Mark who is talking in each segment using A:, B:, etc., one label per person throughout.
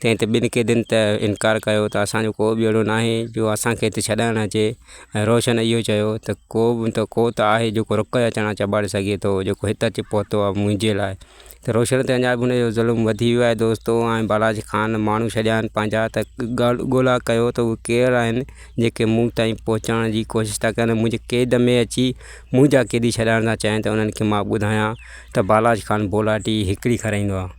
A: تنهن تي ٻن قيدين ته انڪار ڪيو ته اسان جو ڪو به اهڙو ناهي جو اسانکي هتي ڇڏائڻ اچي ۽ روشن اهو چيو ته ڪو به ته ڪو ته آهي جيڪو رڪ جا چڻا چٻاڙي سگهي ٿو جيڪو هت اچي پهتو آهي منهنجي لاء ته روشن تي اڃا به ان جو ظلم وڌي ويو آهي دوستو ۽ بالاجي خان ماڻهو ڇڏيا آهن پنهنجا ته ڳالهه ڳولا ڪيو ته اهي ڪير آهن جيڪي مون تائين پهچڻ جي ڪوشش ٿا ڪن منهنجي قيد ۾ اچي منهنجا قيدي ڇڏائڻ ٿا چاهين ته انهن کي مان ٻڌايان ته بالاجي خان بولاٽي هڪڙي کارائيندو آهي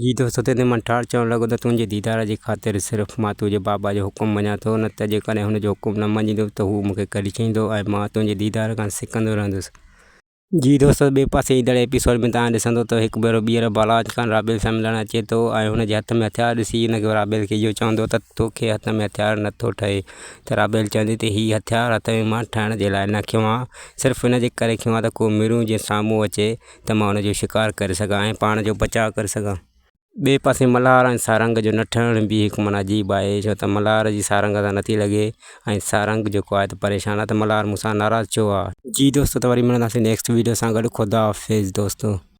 A: جي دوست اتي تي من ٺار چوڻ لڳو ته تنهنجي ديدار جي خاطر صرف مان تنهنجي بابا جو حڪم مڃان ٿو نه ته جيڪڏهن هن جو حڪم نه مڃيندو ته هو مون کي ڪريچيندو ۽ مان تنهنجي ديدار کان سڪندو رهندس. جي دوست ٻئي پاسي ايندڙ ايپيسوڊ ۾ توهان ڏسندو ته هڪ ڀيرو ٻيهر بالاچ خان رابيل سان ملڻ اچي ٿو ۽ هن جي هٿ ۾ هٿيار ڏسي هن کي رابيل کي اهو چوندو ته تو کي هٿ ۾ هٿيار نه ٿو ٺهي ته رابيل چوندي ته هي هٿيار هٿ ۾ مان ٺهڻ جي لاء نه کنيو آهي صرف ان جي ڪري کنيو آهي ته ڪو ميرون جيئن سامهون اچي ته مان ان جو شڪار ڪري سگهان ۽ پاڻ جو بچاء ڪري سگهان. ٻئي پاسي ملهار ۽ سارنگ جو نه ٺهڻ به هڪ معنيٰ عجيب آهي، ڇو ته ملهار جي سارنگ سان نٿي لڳي ۽ سارنگ جيڪو آهي ته پريشان آهي ته ملهار مون سان ناراض ڇو آهي. جي دوستو ته وري ملنداسين نيڪسٽ ويڊيو سان گڏ خداحافظ دوستو.